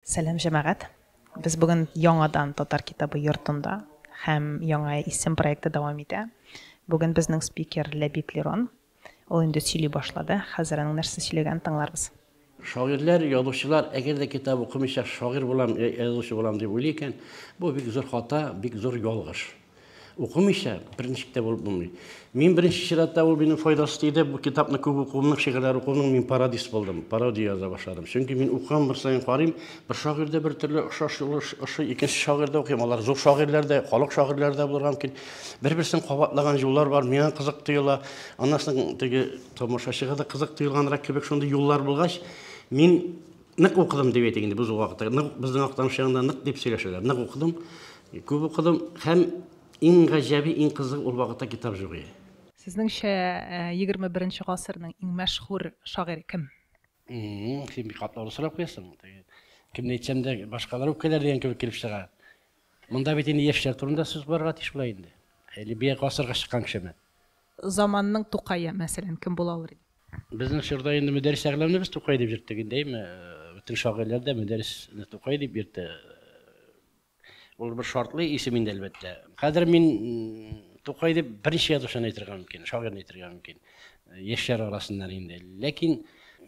Сәлам җәмәгать! Без бүген яңадан Татар китабы йортында һәм Яңа исем проекты дәвам итә. Бүген безнең спикер Ләбиб Лерон. Ул инде сөйли башлады, хәзер аның нәрсә сөйләгәнен тыңларбыз. Шагыйрьләр, язучылар, әгәр дә китап укымыйча шагыйрь булам, язучы булам дип уйлый икән, бу бик зур хата, бик зур ялгыш. Укымыйча, берничек тә булып булмый. Мин беренче чиратта ул минем файдасы тиде. Бу китапны күп укуымның, шигырьләр укуымның мин пародист булдым. Пародия яза башладым. Чөнки мин укыган бер саен карыйм, бер шагыйрьдә бер төрле охшаш юлы ошый, икенче шагыйрьдә укыйм. Алар зур шагыйрьләр дә, халык шагыйрьләре дә булырга мөмкин. Бер-берсен кабатлаган юллар бар, миңа кызык тоела. Аннан соң теге тамашачыга да кызык тоелганрак кебек шундый юллар булгач, мин Нык укыдым дип әйтик инде без ул вакытта. Нык безнең Актаныш ягында нык дип сөйләшәләр. Нык укыдым, күп укыдым һәм иң гаҗәби, иң кызыгы ул вакытта китап җук иде. Сезнеңчә, егерме беренче гасырның иң мәшһүр шагыйре кем? М-м-м, син бик катлаулы сорау куясың. Теге, кемне әйтсәм дә, башкалар үпкәләр дигән кебек килеп чыга. Монда бит инде яшьләр турында сүз барырга тиеш була инде. Әле бия гасырга чыккан кешеме? Заманның Тукае, мәсәлән, кем була алыр иде? Безнең чорда инде Мөдәрис Әгъләмне без Тукай дип йөрттек инде, әйме? Бөтен шагыйрьләр дә Мөдәрисне Тукай дип йөртә. Ул бер шартлы исем инде, әлбәттә. Хәзер мин Тукай дип берничә язучыны әйтергә мөмкин, шагыйрьне әйтергә мөмкин. Яшьләр арасыннан инде. Ләкин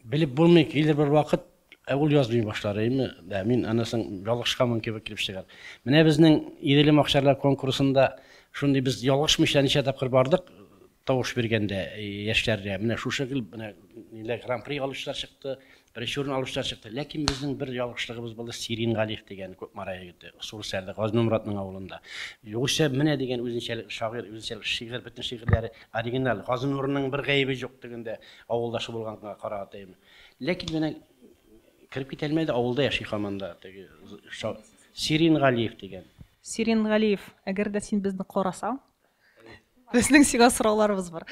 белеп булмый, килер бер вакыт, ә ул язмый башлар, әйме? Дә, мин аннан соң ялгышканмын кебек килеп чыгар. Менә безнең Иделем Акчарлар конкурсында шундый без ялгышмыйча ничә тапкыр бардык, Тавыш биргәндә яшьләрдә менә шушы гел менә ниләр гран-при алучылар чыкты, беренче урын алучылар чыкты. Ләкин безнең бер ялгышлыгыбыз булды, Сирин Галиев дигән Кукмара егете, Сурсәрдә, Газнумратның авылында. Югыйсә менә дигән үзенчәлекле шагыйрь, үзенчәлекле шигырь, бөтен шигырьләре оригиналь. Газнурның бер гаебе юк тегендә, авылдашы булганга карагатаеме. Ләкин менә кереп китә алмады, авылда яши хаман да теге Сирин Галиев дигән. Сирин Галиев, әгәр дә син безне карасаң, Безнең сиңа сорауларыбыз бар.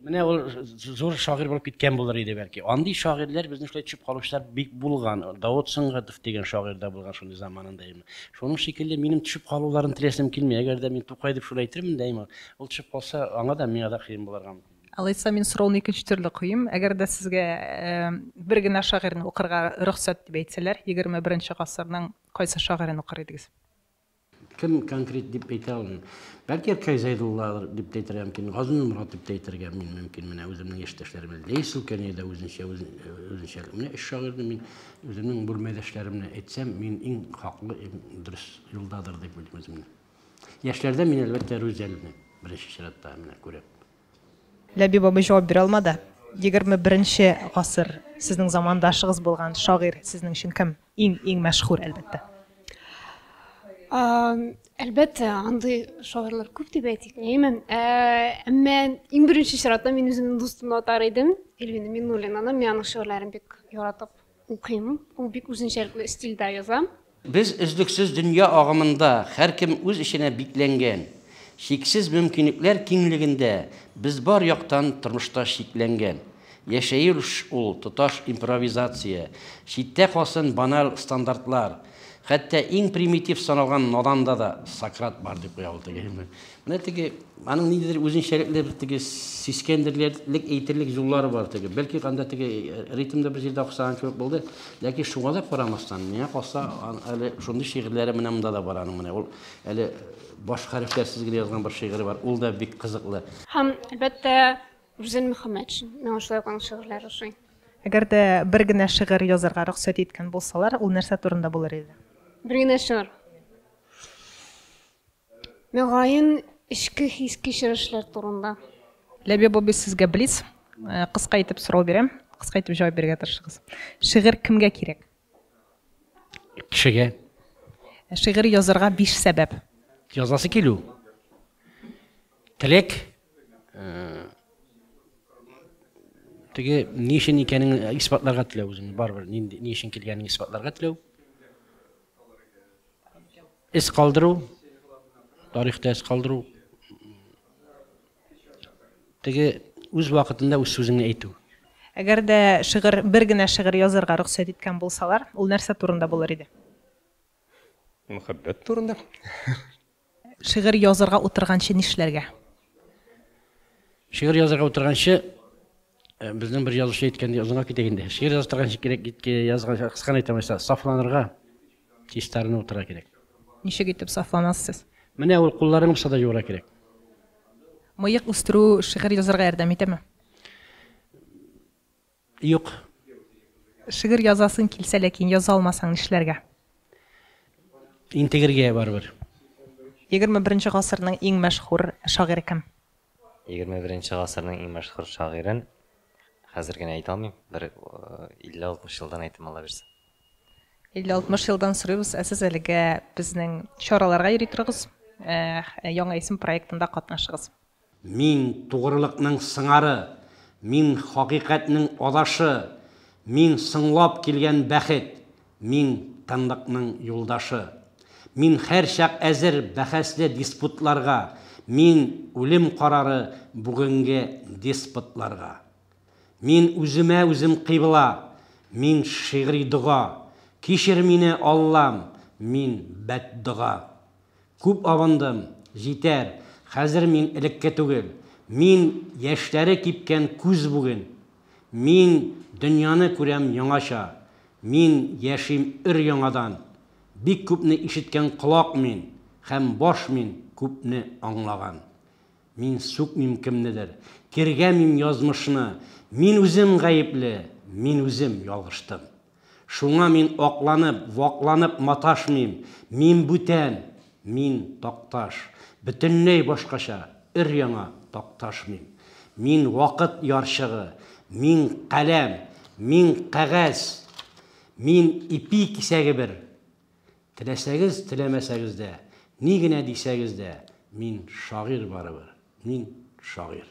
Менә ул зур шагыйрь булып киткән булыр иде бәлки. Андый шагыйрьләр безнең шулай төшеп калучылар бик булган. Давыт Сөнгатов дигән шагыйрь дә булган шундый заманында именно. Шуның шикелле минем төшеп калуларын теләсем килми. Әгәр дә мин Тукай дип шулай әйтермен дә именно. Ул төшеп калса, аңа да миңа да кыен булырга мөмкин. Алайса мин сорауны икенче төрле куйым. Әгәр дә сезгә бер генә шагыйрьне укырга рөхсәт дип әйтсәләр, 21 нче гасырның кайсы шагыйрен укыр идегез? Кем конкрет дип әйтә алмыйм. Бәлки Иркай Зәйдулладыр дип тә әйтергә мөмкин, Газинур Мурат дип тә әйтергә мин мөмкин. Менә үземнең яшьтәшләрем белән Ләйсел Кәнәй дә үзенчә үзенчә. Менә өч шагыйрьне мин үземнең бүрмәдәшләрем белән әйтсәм, мин иң хаклы, иң дөрес юлдадыр дип уйлыйм үземне. Яшьләрдә мин әлбәттә Рүзәлне беренче чиратта менә күрәм. Ләбиб абый җавап бирә алмады. Егерме беренче гасыр, сезнең замандашыгыз булган шагыйрь сезнең өчен кем? Иң, иң мәшһүр, әлбәттә. Әлбәттә, андый шагыйрьләр күп дип әйтик, әймен. Әмма иң беренче чиратта мин үземнең дустымны атар идем, Эльвина Миннуллинаны. Мин аның шигырьләрен бик яратып укыйм. Ул бик үзенчәлекле стильдә яза. Без өзлексез дөнья агымында, һәркем үз эченә бикләнгән. Чиксез мөмкинлекләр киңлегендә без бар яктан тормышта шикләнгән. Яшәелш ул, тоташ импровизация. Читтә калсын баналь стандартлар. Хәтта иң примитив саналган наданда да Сократ бар, дип куя ул теге. Менә теге, аның ниндидер үзенчәлекле бер теге сискәндерерлек әйтерлек юллары бар теге. Бәлки анда теге ритмда бер җирдә охшаган кебек булды. Ләкин шуңа да карамастан, миңа калса, әле шундый шигырьләре менә монда да бар аның. Менә ул әле баш хәрефләрсез генә язган бер шигыре бар. Ул да бик кызыклы. Һәм, әлбәттә, Рүзән Мөхәммәтшин, миңа шулай ук аның шигырьләре ошый. Әгәр дә бер генә шигырь язарга рөхсәт иткән булсалар, ул нәрсә турында булыр иде? Бер генә шигырь. Мөгаен, эчке хис кичерешләр турында. Ләбиб абый, сезгә блиц. Э, кыска итеп сорау бирәм. Кыска итеп җавап бирергә тырышыгыз. Шигырь кемгә кирәк? Кешегә. Э, шигырь язарга биш сәбәп. Язасы килү. Теләк, теге ни өчен икәнен исбатларга теләү үзеңне барыбер нинди ни өчен килгәнен исбатларга теләү эз калдыру тарихта эз калдыру теге үз вакытында үз сүзеңне әйтү әгәр дә шигырь бер генә шигырь язарга рөхсәт иткән булсалар ул нәрсә турында булыр иде Мөхәббәт турында. Шигырь язарга утырганчы нишләргә? Шигырь язарга утырганчы э, безнең бер язучы әйткәндәй озынга китәк инде. Шигырь язып торганчы кирәк китке язганчы кыскан әйтәм исә сафланырга чистарына утыра кирәк. Ничек итеп сафланасыз? Менә ул кулларың булса да юра кирәк. Мыек үстерү шигырь язарга ярдәм итәме? Юк. Шигырь язасың килсә ләкин яза алмасаң нишләргә? Интегергә барыбер. Егерме беренче гасырның иң мәшһүр шагыйре кем? Егерме беренче гасырның иң мәшһүр шагыйрен хәзер генә әйтә алмыйм, бер 50-60 елдан әйтәм алабирса. 50-60 елдан сорыйбыз, ә сез әлегә безнең чараларга йөри торыгыз, Яңа исем проектында катнашыгыз. Мин, тугрылыкның сыңары, Мин, хакыйкатьнең адашы, Мин, соңлап килгән бәхет, Мин, тынлыкның юлдашы. Мин һәрчак әзер бәхәсле диспутларга, Мин, үлем карары бүгенге деспотларга. Мин, үземә үзем кыйбла, Мин, шигъри дога, Кичер мине, Аллам, мин, бәддога. Күп абындым, җитәр, хәзер мин элекке түгел. Мин, яшьләре кипкән күз бүген. Мин, дөньяны күрәм яңача. Мин, яшим өр-яңадан. Бик күпне ишеткән колак мин, һәм баш мин, күпне аңлаган. Мин сүкмим кемнедер, тиргәмим язмышны. Мин үзем гаепле, мин үзем ялгыштым. Шуңа мин акланып, вакланып маташмыйм. Мин бүтән. Мин, Такташ. Бөтенләй башкача, өр-яңа Такташмын. Мин, вакыт ярчыгы. Мин, каләм. Мин, кәгазь. Мин, ипи кисәге бер. Теләсәгез, теләмәсәгез дә, ни генә дисәгез дә, мин, шагыйрь барыбер. Мин, шагыйрь.